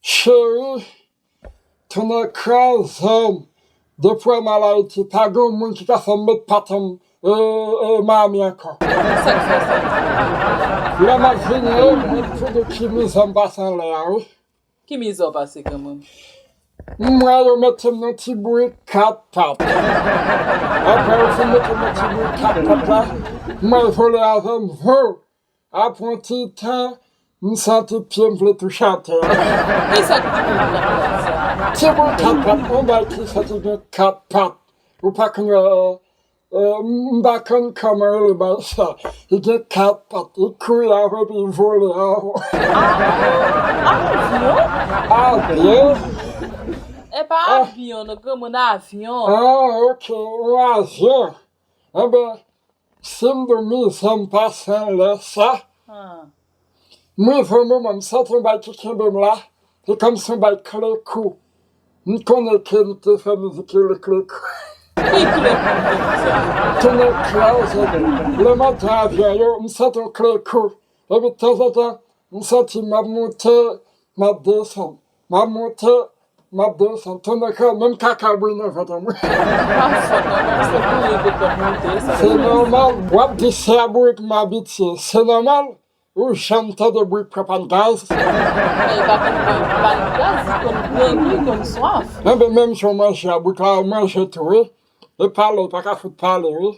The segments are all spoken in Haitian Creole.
Cheri tounen kraze'm depi wè'm al Ayiti pa gen yon moun ki ka fè'm met paten'm Miami ankò. Lè m'ap vini yo mwen konnen ki mizè m'pase anlè a wi. Ki mizè w pase granmoun? Mwen yo mete'm nan ti bourik 4 pat. Aprè yo fin mete'm nan ti bourik 4 pat la mwen vole avè'm hoo. Aprè yon ti tan, m santi pye m vle touche atè a. Ki sa ki te konn fè ou fè sa? Ti boul kat pat, yon bagay ki fè ki gen kat pat, ou pa konn wè, m pa konn kòman yo rele bagay sa, li gen kat pat, li kouri avè w epi li vole avè w. Ah bon? Avyon? Avyon? Epa avyon non granmoun, avyon. Ah ok, yon avyon. Anben sim domi zanm pa san lè sa m rive yon moman m santi yon bagay ki kenbem la se kòmsi yon bagay kle kou m konnen ke m te fè mizik yo li kle kou Ki kle kou m te di sa? Tounen closer to me lè m ap pran avyon yo m santi yon kle kou epi tanzantan m santi m ap moute m ap desann Map monte map desann tonnè kay menm kaka bouyi nan vant an mwen. Pap fò nan non se bouyi li konn monte sa Se vre. nòmal wap di se a bourik m abitye se nòmal ou janm tande bourik pran pàn gaz. Men li pa konn pran pàn gaz li konn pran li konn swaf. Enben menm jan w manje a bourik la ou manje tou wi epa lè li paka fout pale wi.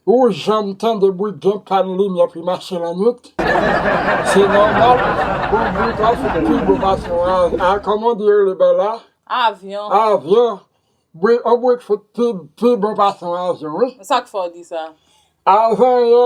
Ou janm tande bri gen pann limyè ki mache lannwit? Se nòmal pou bri ta fin pi gwo pase yon a kòman di rele bè la? Avyon. Avyon. Bri yon bri k fout pi bon pase yon avyon wi. Sa k fè w di sa? Avan yè.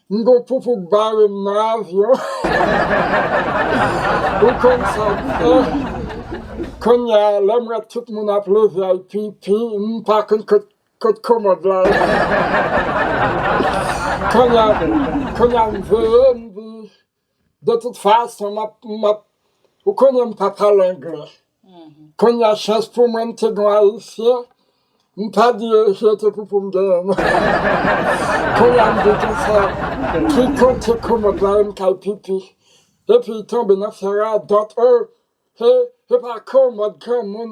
M gon poupou k barem nan avyon ou konn sa k fè konnya lèm wè tout moun ap leve al pipi m pa konn kot kot komòd la ye konnya konnya m veye m di De tout fason map map ou konnen m pa pale anglè konnya chans pou mwen m te gen yon ayisyen m ta di je te pou poum genyen non konnya m vin gen sa ki konte komòd la e m kay pipi epi tonbe nan fè radòt oh se pa komòd granmoun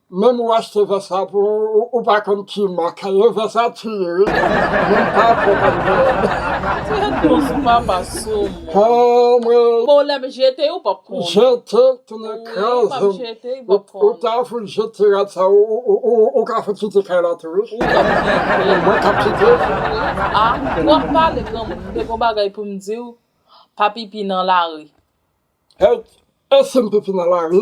Menm ou achte vès sa pou ou ou pa konn ki mak e vès sa tu ye wi moun pa fè kòm mwen. Bon lè m jete ou pap konn. Jete l tounen kraze m ou ta fout jete rad sa ou ka fout kite kay la tou wi. Mwen kap kite. Ah ou ap pale granmoun m te gon bagay pou m diw pa pipi nan lari. Hey e sim pipi nan lari.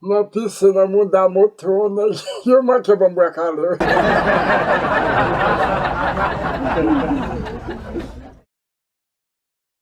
Nan pise nan mouda moto nèg yo manke banm bwa kale wi.